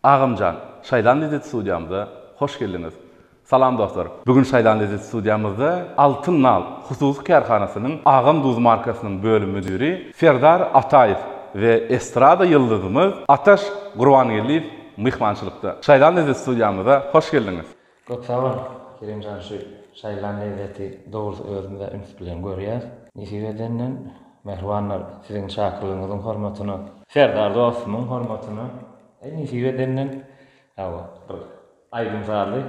Agamjan, Şaýlan Lezzet studiýamyza hoş geldiňiz! Salam dostlar! Bu gün Şaýlan Lezzet studiýamyzda Altyn nal hususy kärhanasynyň Agam duzy markasynyň bölüm müdiri Serdar Ataýew we estrada ýyldyzymyz Ataş Gurbangeldiýew myhmançylykda. Şaýlan Lezzet studiýamyza hoş geldiňiz! Köp sag bol Kerimjan şu şaýylan lezzeti dogrysy özümizä üns bilen görýäs nesip edenden mähribanlar siziň şakyrlygyňyzyň hormatyna. Serdar dostumyň hormatyna eý nesip edenden ýa bir aýdym sazly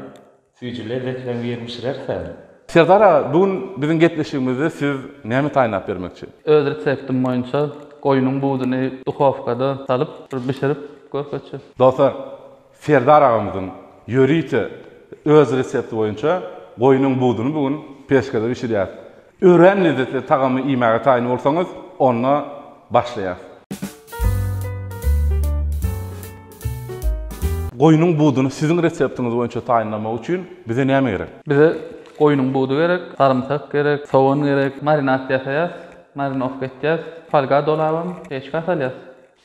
süýji lezzetleň birini bişirersen. Serdar aga bu gün biziň gepleşigimizde siz näme taýynlap bermekçi? Öz reseptim boýunça goýnuň buduny duhowkada salyp bir bişirip görkezje. Dostlar Serdar agamyzyň ýörite öz resepti boýunça goýnuň buduny bu gün peşkede bişirýäs. Örän lezzetli tagamy iýmäge taýyn bolsaňyz, onda başlaýas. Goýnuň buduny siziň reseptiňiz boýunça taýynlamak üçin bize näme gerek? Bize goýnuň budy gerek, sarymsak gerek, sogan gerek. Marinat ýasaýas, marinowka etýäs, folga dolabam, peçka salýas.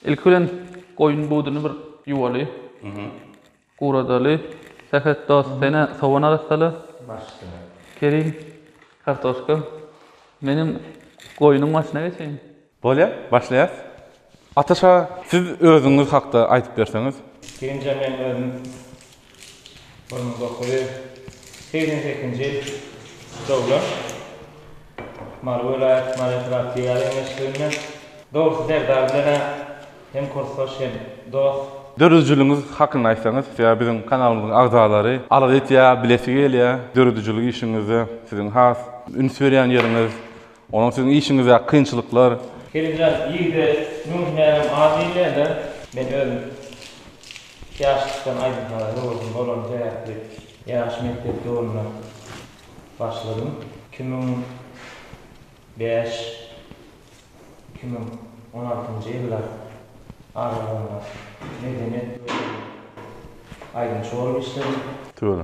Ilki bilen goýun buduny bir ýuwaly. Guradaly. Sähet dost, sen-ä sowan arassaly. Başda. Kerim, kartoşka. Menem goýnuň başyna geçeýin. Bolýar, başlaýas. Ataşa, siz özüňiz hakda aýdyp berseňiz. Ilkinjä men özüm Burnuň dokuzy segsen sekizinji ýyl doglan. Mary welaýat, Mary etrap filialy hemişlikinde. Dogrusy Serdar bilen-ä hem kursdaş hem dost. Döredijiligiňiz hakynda aýtsaňyz sebäbi biziň kanalymyzyň agzalary arz etýär, bilesi gelýär döredijiligi işiňizde siziň has üns berýän ýeriňiz, Onuň siziň işiňizdäki kynçylyklar. Helejan irde müň hünärim az diýilýär-dä. Men özüm ýaşlykdan aýdym-saza höwesim bolany sebäpli ýaş mekdep döwrümden başladym. Iki müň bäş, iki müň on altynjy ýyllar aralygynda Medeniýet bölüminde aýdymçy bolup işledim. Töle.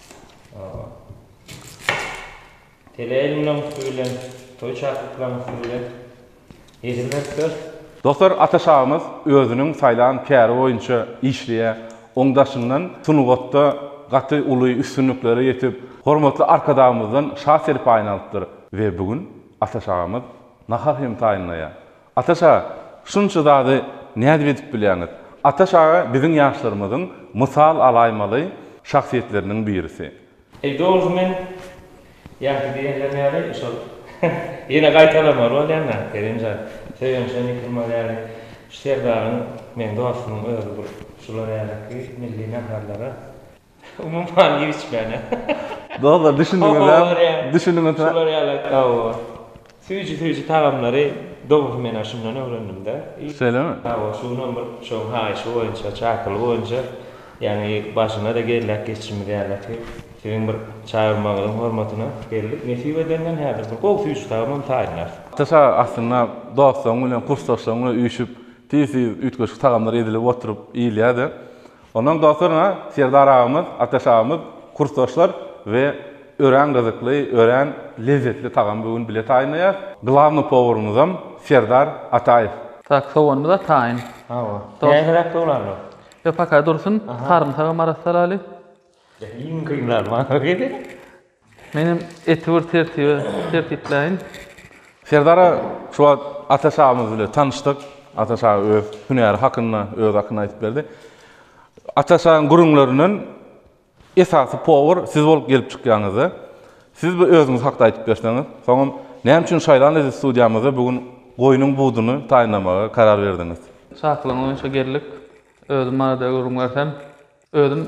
Tele elmlaň üsti bilen, toý çaklyklaň üsti bilen ýedirmekdir. Dostlar Ata şagymyz özüniň saýlan käri boýunça işleýä, oň daşyndan sungatda gaty uly üstünliklere ýetip, hormatly Arkadagymyzdan şa serpaýyny alypdyr we bu gün Ata şagymyz nahar hem taýynlaýa, Ataş aga, şunça zady nädip edip bilýäňiz? Ataş aga biziň ýaşlarymyzyň mysal alaýmaly şahsyýetleriniň birisi. Eý dogrusu men ýaşy diýenleriň ýaly şol ýene gaýtalamaly bolýan-da Kerim jan, Söýenşe Nikirmal ýaly şu Serdaryň meň dostumyň özi bu şular ýaly ki milli naharlara. Umuman giçmänä. Dostlar düşündiňizem, düşündiňizmi? Şular ýaly hawa. Süýji-süýji tagamlary dogrusy men-ä şundan öwrendim-dä. Şeýlemi? Hawa, şu günam bir şoň haýyşy boýunça, çakylygy boýunça, ýagny başyna-da gelläk geçjimiz ýaly ki, siziň bir çagyrmagyňyzyň hormatyna geldik. Nesip edenden häzir bir gowy süýji tagamam taýynlarys. Ataşa aslynda dostlaryň bilen, kursdaşlaryň bilen üýşüp, tiz-tiz üýtgeşik tagamlar edilip oturyp iýilýär-de. Ondan dogtyryn-a, Serdar agamyz, Ataş agamyz, kursdaşlar we örän gyzykly, örän lezzetli tagamy bu gün bile taýynlaýas. Glawny powurymyzam Serdar Ataýew. Tak, soganymyz-a taýyn. Hawa. Täzeräk dolandyr. Ýok, paka dursun, sarymsagam maraz salaly. Iň kyn zat, maňa gel. Menem eti bir tertibe tertipleýin. Serdara şu wagt Ataş agamyz bilen tanyşdyk. Ataş aga öz hünäri hakynda, öz hakynda aýdyp berdi. Ataş agaň gürrüňlerinden esasy powar siz bolup gelip çykýaňyzda. Siz bir özüňiz hakda aýdyp berseňiz, soňam näme üçin Şaýlan Eziz studiýamyzda bu gün goýnuň buduny taýynlamaga karar berdiňiz? Çakylygyň boýunça geldik. Özüm barada gürrüň bersem, özüm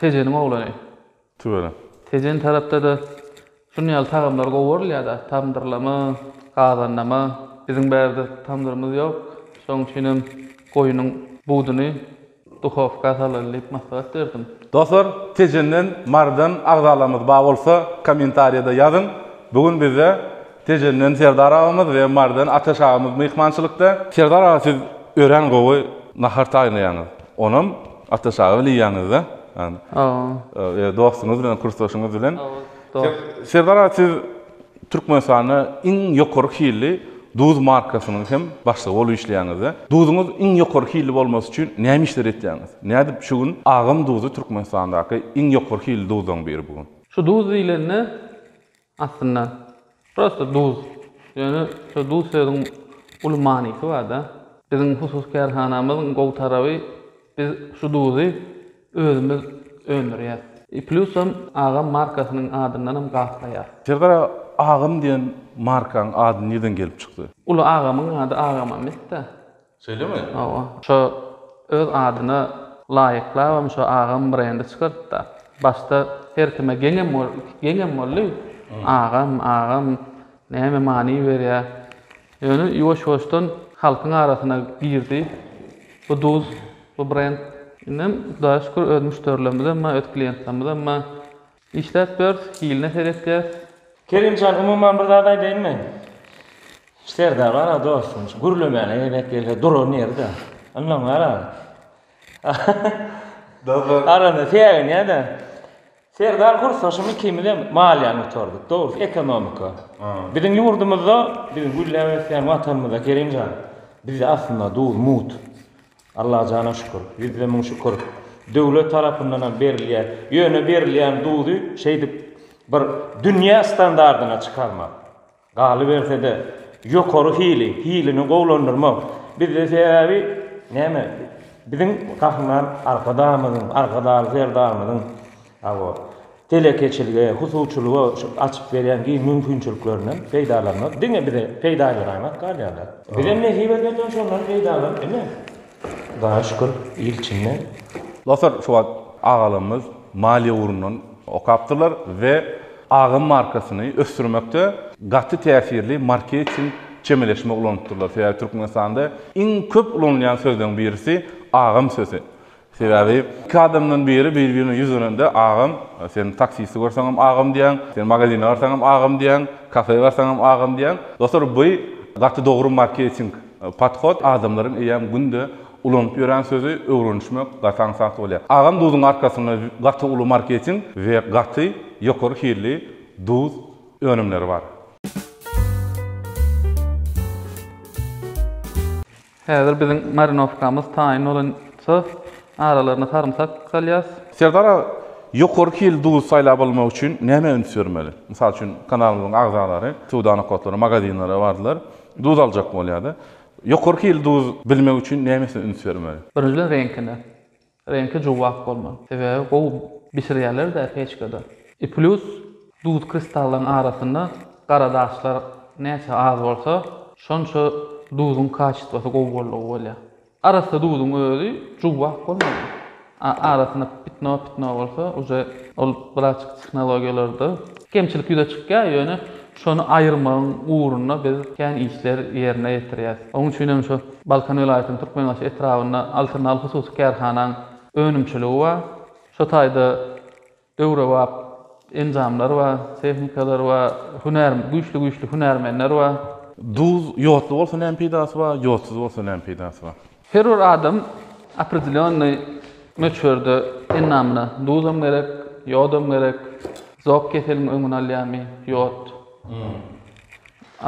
Tejeniň oglany. Tüweleme. Tejen tarapda-da şuny ýaly tagamlar gowurylýar-da, tamdyrlama, gazannama. Biziň bärde tamdyrymyz ýok. Şoň üçinem goýunyň buduny duhowka salyly diýip maslahat berdim. Dostlar, Tejenden, Marydan agzalarymyz bar bolsa, kommentariýada ýazyň. Bu gün bizde Tejenden Serdar agamyz we Marydan Ataş agamyz myhmançylykda. Serdar aga siz örän gowy nahar taýynlaýaňyz. Onam Ata çaga bile ýanyňyzda. Ýa dostuňyz bilen, kursdaşyňyz bilen. Serdar aga siz Türkmenistanda iň ýokary hilli duz markasynyň hem başlygy bolup işleýäňizde. Duzuňyz iň ýokary hilli bolmasy üçin näme işler etýäňiz? Nädip şu gün Agam duzy Türkmenistandaky iň ýokary hilli duzlaryň biri bu gün? Şu duz diýlende Aslynda prosta duz. Ýöne şu duz sözüň uly manysy barda. Biziň hususy kärhanamyzyň gowy taraby biz şu duzy özümiz öndürýäs. I plusam Agam markasynyň adyndanam gaplaýar. Serdar agam diýen markaň ady nirden gelip çykdy? Uly agamyň ady Agam Ahmetda. Şeýlemi? Hawa. Şo öz adyna laýyklabam şo agam brendi çykartdy-da. Başda her kime geňem geňem boldy. Agam, agam, näme many berýär. Ýöne ýuwaş-ýuwaşdan halkyň arasyna girdi bu duz, bu brend. Indem Hudaýa şükür öz müşderilerimiz hem bar, öz kliýentlerimiz hem bar. Işläp bers, hiline seretýäs. Kerim jan umuman bir zat aýdaýynmy? Serdar gara dostum şu gürlemäne gezek gelse duran ýeri da. Ondan gara. Dostlar. Arada säginýä de. Serdar gursaşym ikimizem maliýany gutardyk. Dogrusy ekonomika. Biziň ýurdumyzda biziň gülläp ösýän watanymyzda Kerim jan. Bizde aslynda duz mut. Allajana şükür, ýüzde müň şükür, döwlet tarapyndanam berilýär. Ýöne berilýän duzy şeýdip bir dünýä standardyna çykarmak, galyberse-de, ýokary hili, hilini gowulandyrmak bizde sebäbi näme, biziň Gahryman Arkadagymyzyň, Arkadagly Serdarymyzyň Hawa, telekeçilige, husuçylyga şu açyp berýän giň mümkinçiliklerinden peýdalanmak diňe bize peýdalyragrak galýar-da. Bizem nesip edensoň şondan peýdalanyp, ine, Hudaýa şükür, il içinde. Dostlar, şu wagt agalarymyz maliýe ugrundan okapdyrlar we Agam markasyny ösdürmekde gaty täsirli marketing çemeleşme ulanypdyrlar. Sebäbi Türkmenistanda iň köp ulanylýan sözleň birisi Agam sözi. Sebäbi iki adamdan biri bir-birine ýüz dönende agam, sen taksiste görseňem agam diýýäň, sen magazine barsaňam agam diýýäň, kafe barsaňam agam diýýäň. Dostlar bu gaty dogry marketing podhod, adamlaryň eýýäm günde ulanyp ýören sözi öwrenişmek gaty aňsat bolýar. Agam duzuň arkasynda gaty uly marketing we gaty ýokary hilli duz önümleri bar. Häzir biziň marinowkamyz taýyn bolunsa, aralaryna sarymsak salýas. Serdar aga, ýokary hilli duzy saýlap almak üçin nämä üns bermeli? Mysal üçin, kanalymyzyň agzalary söwda nokatlaryna, magazinlere bardylar, duz aljak bolýardy. Ýokary hilli duz bilmek üçin nämesine üns bermeli? Birinjiden reňkine. Reňki juwwak bolmaly. Sebäbi gowy bişirýärler-dä peçkada. I plus duz kristallaryň arasynda gara daşlar näçe az bolsa, şonça duzuň kaçitwasy gowy boldugy bolýar. Arassa duzuň özi juwwak bolmaly. A arasynda pitno-pitno bolsa uje ol braçki tehnologiýalarda kemçilik ýüze çykýar, ýöne Şony aýyrmagyň ugrunda biz kän işler ýerine ýetirýäs. Onuň üçin hem şu Balkan welaýatynyň Türkmenbaşy etrabynda Altyn al hususy kärhanaň önümçiligi bar. Şu taýda döwrebap enjamlar bar, tehnikalar bar, hünär, güýçli-güýçli hünärmenler bar. Duz ýodly bolsa näme peýdasy bar, ýodsuz bolsa näme peýdasy bar? Her bir adam opredelennyý möçberde endamyna duzam gerek, ýodam gerek. Zok keseliň öňüni alýarmy? Ýod.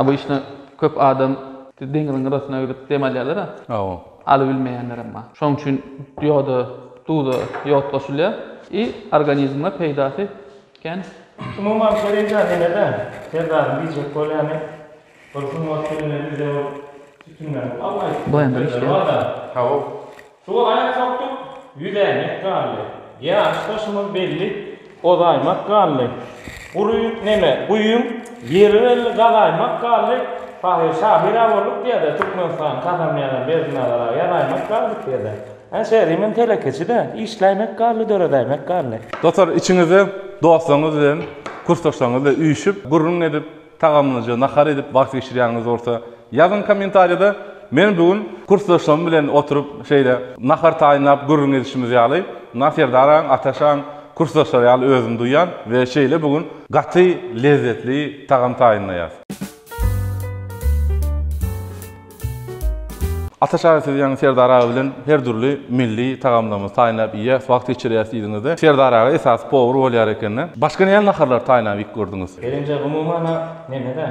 Obyçny köp adam deňiziň gyrasyna gidip dem alýarlar-a. Hawa. Alybilmeýänlerem bar. Şonuň üçin ýoda, duza ýod goşulýar. I organizme peýdasy kän. Umuman, şeýle eýdýän ine-de, Serdaryň diýjek bolýany, Bir sungat filmi bize ol sütünleri galmaýyp Boýandan işleýär. Hawa. Suwa aýak sokduk, ýüzäýmek galdy. Ýaryş daşymyz belli, ozaýmak galdy. Gury neme, guýyň ýeri belli, gazaýmak galdy. Pahyr şahyr-a bolduk diýýär-dä, Türkmenistan kazanmaýan-a Berdinnazar-a ýazaýmak galdy diýýär-dä. Ä şeýle, men telekeçi-dä, işläýmek galdy, döredäýmek galdy. Dostlar, içiňizde dostlaryňyz bilen, kursdaşlaryňyz bilen üýşüp, gürrüň edip, Tagamlyja nahar edip wagt geçirýäniňiz bolsa ýazyň kommentariýada. Men bu gün kursdaşlarym bilen oturyp şeýle nahar taýynlap gürrüň edişimiz ýaly mundan Serdaragam, Ataşagam kursdaşlar ýaly özümi duýýan we şeýle bu gün gaty lezzetli tagam taýynlaýas. Ataş aga siz ýaňy Serdar aga bilen her dürli milli tagamlarymyzy taýynlap iýýäs, wagt geçirýäs diýdiňizde, Serdar aga esasy powar bolýar ekeni. Başga näme naharlary taýynlap iýip gördüňiz? Gelinje umumana menede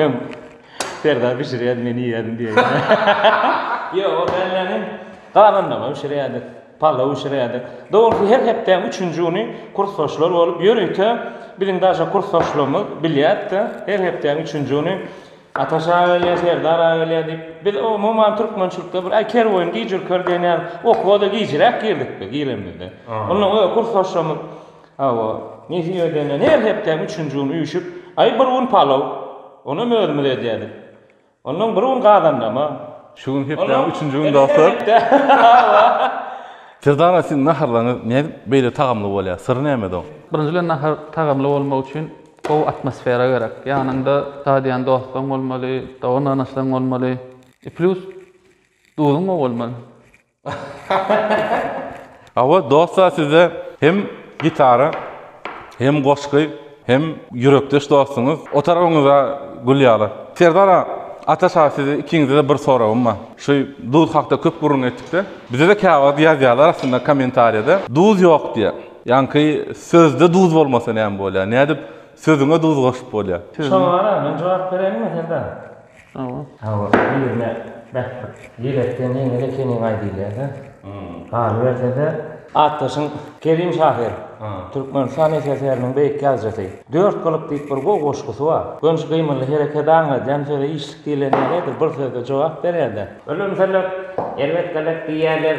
öň Serdar bişirýärdi men iýýärdim diýýär. Ýok ol däl-de hem gazanlama bişirýärdik, palaw bişirýärdik. Dogrusy her hepdäň üçünji güni kursdaşlar bolup ýörite biziň daže kursdaşlarymyz bilýärdi-de her hepdäň üçünji güni Ataş aga gelýär, Serdar aga gelýär diýip, biz umuman türkmençilikde bir, aý, kerboýun gijürker diýen ýaly, okuwa-da gijiräk girdik-de, giremizde. Onnoň özi kursdaşlarymyz, hawa, nesip edende her hepdäniň üçünji güni üýşüp, aý, bir gün palaw, onem özümiz edýärdik. Onnoň bir gün gazandama. Şu gün hepdäniň üçünji güni dostlar. Hawa. Serdar aga, siziň naharlaryňyz nädip beýle tagamly bolýar? Syry nämede oň? Birinji bilen nahar tagamly bolmagy üçin Gowy atmosfera gerek. Ýanyňda dadyýan dostlaň bolmaly, dogan-ganaşlaň bolmaly. I plus duzuň gowy bolmaly. Hawa dostlar sizde hem gitara hem goşgy hem ýürekdeş dostuňyz otaragyňyza gül ýaly. Serdar aga, Ataş aga size ikiňizede bir soragym bar. Şu duz hakda köp gürrüň etdikde bizede käwagt ýazýarlar aslynda kommentariýada duz ýok diýe. Ýaňky sözde duz bolmasa näme bolýar? Nädip sözüňe duz goşup bolýar? Şoňa-da men jogap bereýinmi serdar? Hawa. Hawa, birine bähbit ýelekden ýeňil ekeniň-aý diýilýär-dä. Galyberse-de. Atdaşyň Kerim şahyr, Türkmenistan SSR-niň beýik ýazyjysy, Dört gylyk diýip bir gowy goşgusy bar. Gönç gymyly herekedi aňladýan söze işlik diýlen ýalydyr, bir sözde jogap berýär-de. Ölemseler, erbet-gelek diýýärler.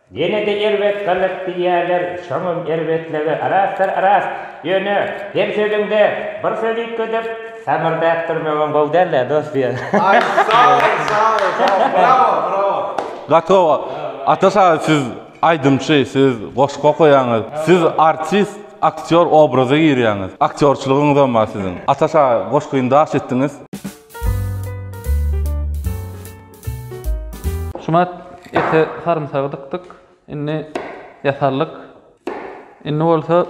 Ýene-de erbet galyk diýýäler, şoňam erbetligi arasdyr-aras. Ýöne, her sözüňde bir söz üýtgedip, samyrdap durmagyň gowy däl-dä, dost diýýär. Aý, sag bol, sag bol, sag bol. Brawo, brawo. Gaty gowy. Ataş aga siz aýdymçy, siz goşgy okaýaňyz. Siz artist, aktýor obraza girýäňiz. Aktýorçylygyňyzam bar siziň. Ataş aga goşgyny daş etdiňiz. Şumat ete sarymsagy dykdyk. Indi ýatarlyk. Indi bolsa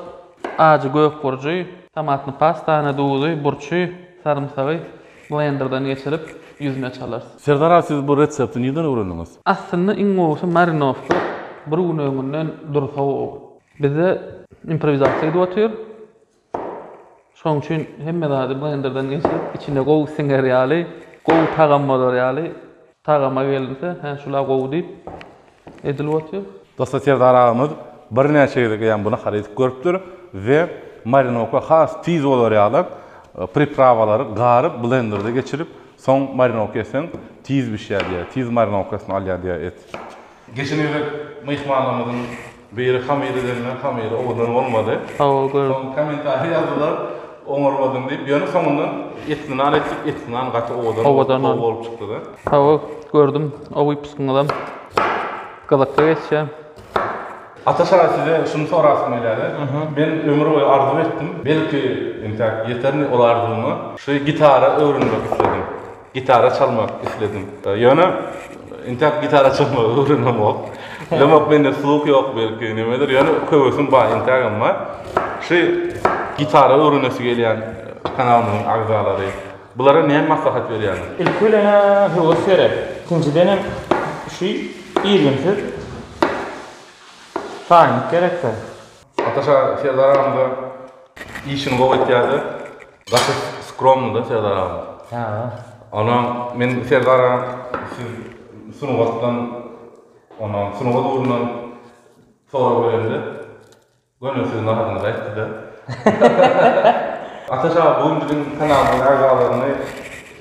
ajy gök burjy, tomatny pastany, duzy, burçy, sarymsagy blenderden geçirip ýüzüne çalarys. Serdar aga siz bu resepti nirden öwrendiňiz? Aslynda iň gowusy marinowka bir gün öňünden dursa gowy. Bizde improwizasiýa gidip otyr. Şoň üçin hemme zady blenderden geçirip, içine gowy siňer ýaly, gowy tagam bolar ýaly tagama gelinse, hä şula gowy diýip edilip otyr. Dostlar Serdar agamyz birnäçe gezek eýýäm bu nahary edip görüpdir we marinowka has tiz bolar ýaly priprawalary garyp blenderde geçirip soň marinowka etseň tiz bişýär diýýär, tiz marinowkasyny alýar diýýär et. Geçen gezek myhmanlarymyzyň biri hamyr edende hamyry owadan bolmady. Hawa gör. Soň kommentariýa ýazdylar oňarmadyň diýip. Ýöne soňundan etli nan etdik, etli nan gaty owadan Owadan gowy nan. bolup çykdyda. Hawa gördüm o wypuskyňyzam gyzykly geçýär. Ata şaýy size şuny sorasym gelýärdi. Men ömür boýy arzuw etdim. Belki, entäk ýeterin ol arzuwyma. Şu gitara öwrenmek isledim. Gitara çalmak isledim. Ýöne intep gitara çalmagy öwrenemok. Bilemok mende sluh ýok belki nimedir. Ýöne höwesim bar integem bar. Şu gitara öwrenesi gelýän kanalymyzyň agzalary bulara näme maslahat berýäňiz? Ilki bilen höwes gerek. Ikinjiden hem şu irginsiz taýynlyk gerekde. Ataşa Serdar agam işini gowy etýärdi. Gaty skromnyda Serdar agam. Sagol. Onam men Serdar agam siz sungatdan onam sungat ugrundan sorag berende göni siziň adyňyzy aýtdyda. Ataş aga bu gün biziň kanalymyzyň agzalaryny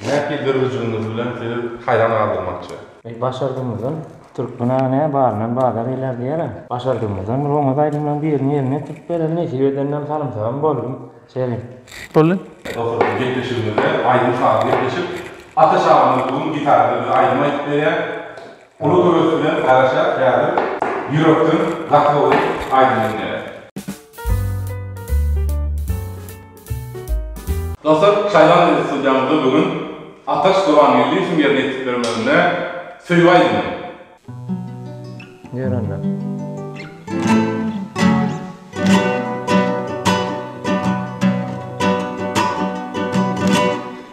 nähili döredijiliginiz bilen sizi haýran galdyrmakçy. Eý başardygymyzdan türkmen aga nä baryndan bazar eýlär diýer-ä. Başardygymyzdan bir oňat aýdymlaryň birini ýerine ýetirip bereli nesip edenden salymsagam boldum. Selim. Boldy. Dosturky gepleşigimizde aýdym sazly gepleşip, Ataş agamyz bu gün gitarada bize aýdym aýdyp berýär. Uly höwes bilen garaşýas häzir ýürekden gaty gowy aýdym diňläýäs. Dostlar, şaýlandy studiýamyzda bu gün Ataş Gurbangeldiýewiň ýerine ýetip bermeginde Söýgi aýdymy.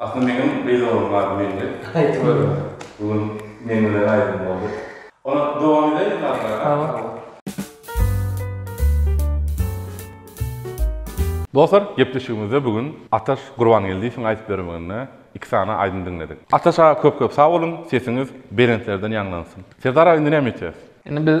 Asly meňem gyzygym bar mende. Bu gün men bilen aýdym boldy. Ony dowam edeýin aglar. Dostlar gepleşigimizde bu gün Ataş Gurbangeldiýewiň aýdyp bermeginde iki sany aýdym diňledik. Ataş aga köp köp sag boluň sesiňiz belentlerden ýaňlansyn. Serdar aga indi näme etýäs? Indi biz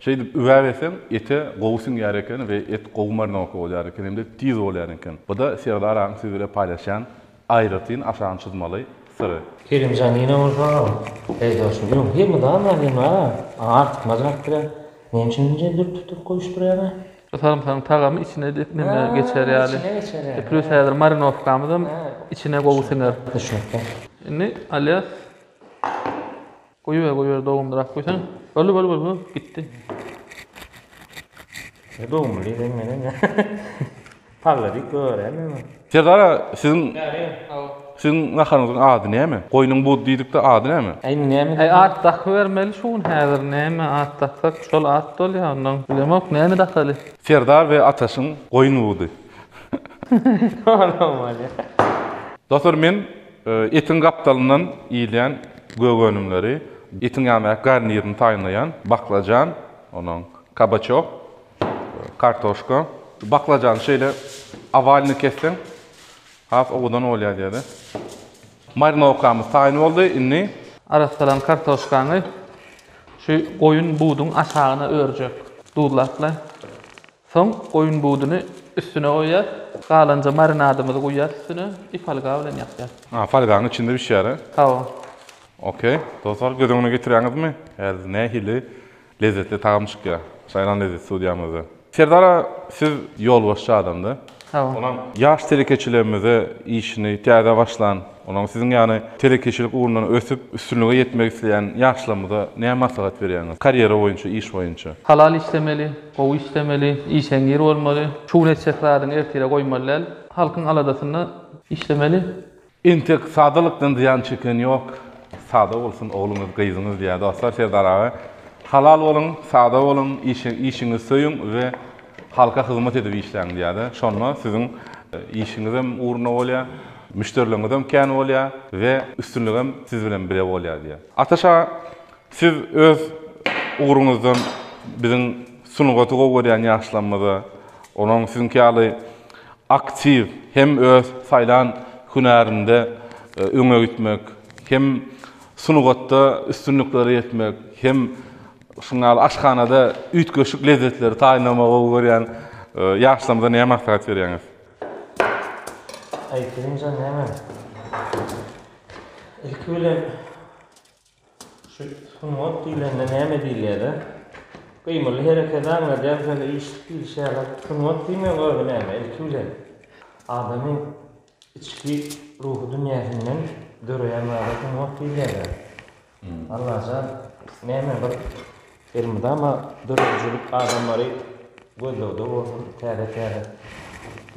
Şeýdip üwäbeseň, ete gowy siňýär eken we et gowy marinowka bolýar eken hem-de tiz bolýan eken. Bu-da Serdar agaň siz bile paýlaşýan aýratyn aşagyny çyzmaly syry. Kerimjan ýene bolsa Serdar ýok, hemme zat bar diýen bar-a, aňa artykmaç zatdyr-a. Näme üçin munça dürtdürtdirip goýuşdyrýaň-a? Şu sarymsagyň tagamy içine dek neme geçer ýaly. Içine geçer ýaly. Plýus häzir marinowkamyzam içine gowy siňer. Düşnükli. Indi Alýas. Goýber goýber dogumdyrak goýsan. Boldy boldy boldy boldy gitdi. Ne dogum bilen menen. Palladyk gören mi? Serdara siziň siziň naharyňyzyň ady näme? Goýnuň bud diýdikde ady näme? Aý indi näme? Aý at dakybermeli şu gün häzir näme at daksak şol at bolýa ondan bilemok näme dakaly. Serdar we Ataşyň goýun budy. Olam bolýa. Dostlar men Etiň gapdalyndan iýilýän gök önümleri, etiň ýaňy garnirini taýynlaýan baklajan, onuň kabaçok, kartoşka. Baklajany şeýle owalny kesseň has owadan bolýar diýeli. Marinowkamyz taýyn boldy, indi. Arassalan kartoşkaňy şu goýun buduň aşagyna örjek. Duzlap-la. Soň goýun buduny üstüne goýýas. Galanja marinadymyzy guýýas üstüne i folga bilen ýapýas. A folganyň içinde bişýär he? Hawa. Ok. Dostlar göz öňüne getirýäňizmi? Häzir nähili lezzetli tagam çykýar. Saýlan lezzet studiýamyzda. Serdar aga siz ýolbaşçy adamda. Salam. Ýaş telekeçilerimize işini täze başlan, onuň siziň ýaly telekeçilik ugrundan ösüp, üstünlige ýetmek isleýän ýaşlarymyza näme maslahat berýäňiz? Karýera boýunça, iş boýunça. Halal işlemeli, gowy işlemeli, işeňňir bolmaly. Şu gün etjek zadyňy ertire goýmaly däl. Halkyň aladasynda işlemeli. Entek sadalykdan zyýan çeken ýok. Sada bolsun ogluňyz, gyzyňyz diýýär. Dostlar Serdar aga halal boluň, sada boluň, işiňizi söýüň we halka hyzmat edip işläň diýýär-de. Şonda siziň işiňizem ugruna bolýar, müşderileriňizem kän bolýar we üstünligem siz bilen bile bolýar diýýär. Ataş aga Siz öz ugruňyzdan biziň sungaty gowy görýän ýaşlarymyza, olaryň siziňki ýaly aktiw hem öz saýlan hünärinde öňe gitmek, hem sungatda üstünliklere ýetmek, hem şunuň ýaly aşhanada üýtgeşik lezzetleri taýynlamagy gowy görýän ýaşlarymyza näme maslahat berýäňiz? Aýtymja näme? Ilki bilen. Şu sungat diýlende näme diýilýärä? Gymyly hereketi aňladýar şeýle işlik diýlişi ýaly. Sungat diýmegiň özi näme? Ilki bilen adamyň içki ruhy dünýäsinden döreýän zada sungat diýilýärä. Allajan näme bir elmydama döredijilik adamlary gözlegde bolsun täze täze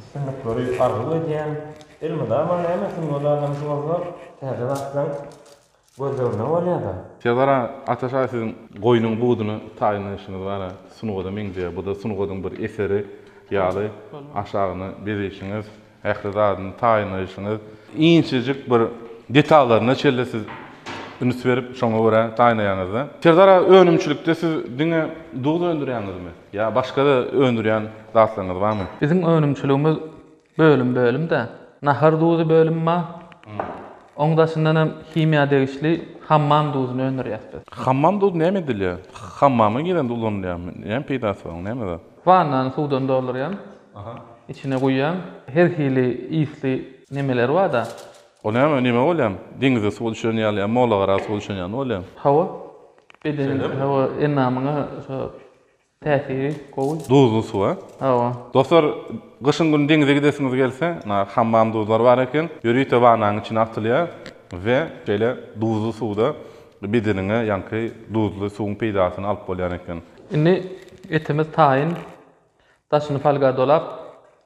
üstünlikleri arzuw edýän. Elmydama näme sungat adamsy bolsa täze zatlaň Gözlegine bolýada. Serdar aga Ataş aga siziň goýnuň buduny taýynlaýşyňyz gara sungada meňzeýär buda sungadyň bir eseri ýaly aşagyny bezeýşiňiz ähli zadyny taýynlaýşyňyz inçejik bir detallaryna çenli siz üns berip şoňa görä taýynlaýaňyzda Serdar aga önümçilikde siz diňe duz öndürýäňizmi ýa başgada öndürýän zatlaryňyz barmy. Biziň önümçiligimiz Bölüm bölüm dä. Nahar duzy bölümi bar. Oň daşyndan hem himiýa degişli hammam duzyny öndürýäs biz. Hammam duzy näme edilýär? Hammama girende ulanylýarmy? Näme peýdasy bar oň? Näme zat? Wannany suwdan doldurýan. Içine guýýan. Her hili ysly nemeleri barda. Ol näme, neme bolýamy? Deňizde suwa düşen ýaly ýa mola gara suwa düşen ýaly bolýamy? Hawa. Bedeniňe, hawa, endamyňa şo. Täsiri gowy. Duzly suwa. Hawa. Dostlar, gyşyň güni deňize gidesiňiz gelse, na hammam duzlary bar eken. Ýörite wanaň içine atylýar we şeýle duzly suwda bedeniňe ýaňky duzly suwuň peýdasyny alyp bolýan eken. Indi etimiz taýyn daşyny folga dolap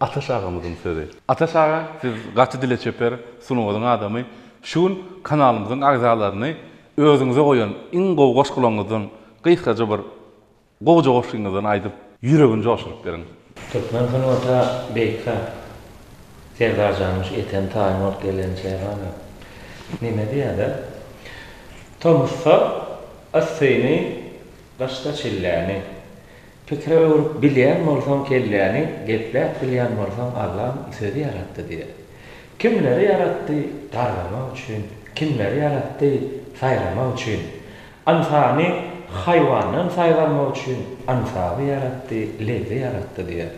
Ataş agamyzyň sözi. Ataş aga siz gaty dile çeper, sungatyň adamy. Şu gün kanalymyzyň agzalaryny özüňize goýan iň gowy goşgularyňyzdan gysgaja bir gowja goşgyňyzdan aýdyp ýüregini joşuryp beriň. Türkmen sungaty beýika Serdarjanmyş eten taýyn bolup gelen çagada neme diýada tomusda yssyny gyşda çilläni Pikire öwrüp bilýän bolsaň kelläni, gepläp bilýän bolsaň Allam sözi ýaratdy diýýär. Kimleri ýaratdy? Gargamak üçin. Kimleri ýaratdy? Saýramak üçin. Ynsany haýwandan saýgarmak üçin ynsaby ýaratdy, lebzi ýaratdy diýýär.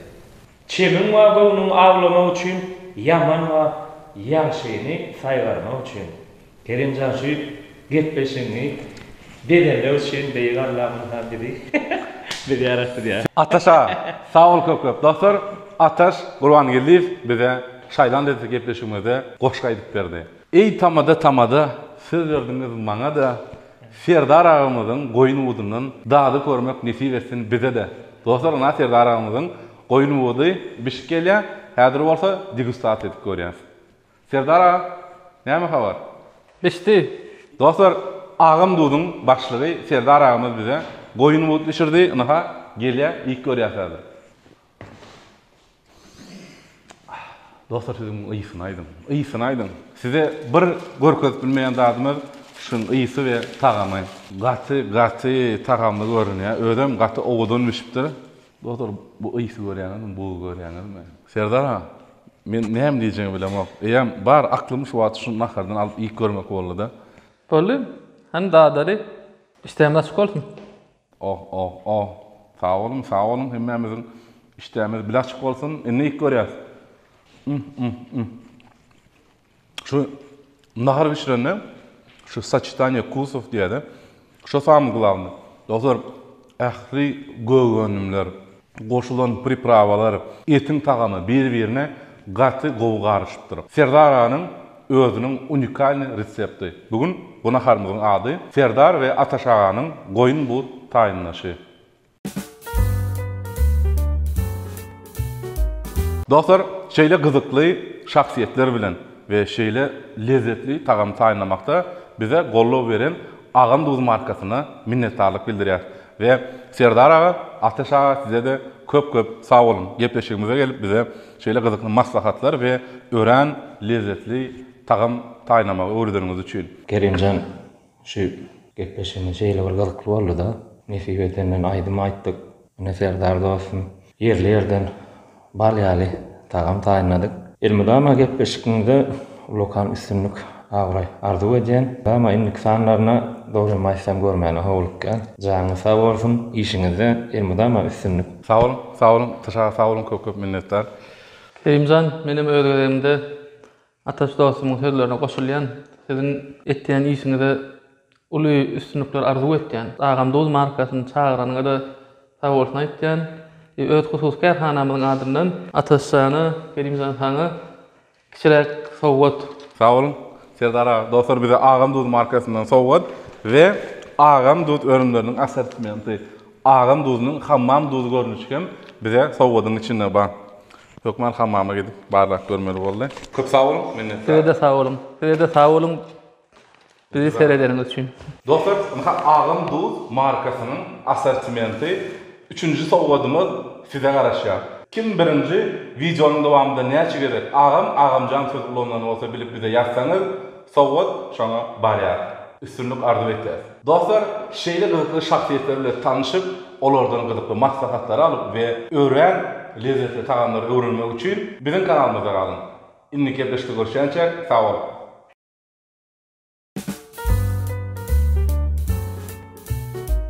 Çemiň we göwnüňi awlamak üçin ýaman we ýagşyny saýgarmak üçin. Kerimjan şu gepleşigiňi bezenmek üçin beýik Alla ynha bizi bizi ýaratdy. Ataşa sag bol köp köp. Dostlar Ataş Gurbangeldiýew bize şaýlan dedi gepleşigimize goşgy aýdyp berdi. Eý tamada tamada söz berdiňiz maňada Serdar agamyzyň goýun budundan dady görmek nesip etsin bizede Dostlar ynha Serdar agamyzyň goýun budy bişip gelýä häzir bolsa degustasiýa edip görýäs Serdar aga näme habar bişdi. Dostlar agam duduň başlygy Serdar agamyz bize goýun but bişirdi ynha gelýä iýip görýäs häzir. Dostlar siz muň ysyny aýdyň. Ysyny aýdyň. Size bir görkezip bilmeýän zadymyz şuň ysy we tagamy. Gaty gaty tagamly görünýär. Özem gaty owadan bişipdir. Dostlar bu ysy görýäňizmi bugy görýäňizmi. Serdar aga men näme diýjegimi bilemok. Eýýäm bar aklym şu wagt şu nahardan alyp iýip görmek boldyda. Boldy. Hany dadaly. Işdämiz açyk bolsun. Oh oh oh sag boluň sag boluň hemmämiziň işdämiz bile açyk bolsun indi ilk görýäs mm mm mm şu nahar bişirende şu saçitaniýe kusow diýäde şo samy glavny dostlar ähli gögönümler goşulan priprawalar, etiň tagamy bir-birine gaty gowy garyşypdyr. Serdar aganyň özüniň unikalnyý resepti. Bu gün bu naharymyzyň ady, Serdar we Ataş aganyň goýun buz taýynlaşy. Dostlar, şeýle gyzykly şahsyýetler bilen we şeýle lezzetli tagamy taýynlamakda bize goldaw beren Agam Duz markasyna minnetdarlyk bildirýäris. We Serdar aga, Ateş aga size-de köp köp sag boluň, gepleşigimize gelip bize şeýle gyzykly maslahatlar we örän lezzetli tagam taýynlamagy öwredeniňiz üçin. Kerimjan şu gepleşigimiz şeýle bir gyzykly boldy-da, nesip etenden aýdym aýtdyk. Ine Serdar dostum ýerli ýerden Bal ýaly tagam taýynladyk. Elmydama gepleşigiňizde ullakan üstünlik abraý arzuw edýän mydama indiki sanlaryna dogrymy aýtsam görmäne howlukýan janyňyz sag bolsun işiňizde elmydama üstünlik. Sag boluň sag boluň Tys aga sag boluň köp köp minnetdar. Kerimjan menem öz gezegimde Ataş dostumyň sözlerine goşulýan, siziň etýän işiňize uly üstünlikler arzuw etýän. Agam duz markasyny çagyranyňada sagbolsun aýtýan we öz hususy kärhanamyzyň adyndan Ataş jana, Kerim jan saňa kiçiräk sowgat. Sag boluň Serdar aga. Dostlar bize Agam duz markasyndan sowgat we Agam duz önümleriniň assortimenti, Agam duzunyň hammam duzy görnüşi hem bize sowgadyň içinde bar. Hökman hammama gidip barlap görmeli boldy. Köp sag boluň, minnetdar. Sizede sag boluň. Sizede sag boluň bizi seredeniňiz üçin. Dostlar ynha Agam Duz markasynyň assortimenti üçünji sowgadymyz size garaşýar. Kim birinji wideonyň dowamynda näçe gezek Agam, Agamjan söz ulanylan bolsa bilip bize ýazsaňyz. Sowgat şoňa barýar. Üstünlik arzuw etýäs. Dostlar, şeýle gyzykly şahsyýetler bilen tanyşyp, olardan gyzykly maslahatlary alyp we örän lezzetli tagamlary öwrenmek üçin biziň kanalymyzda galyň. Indiki gepleşikde görüşýänçä sag boluň!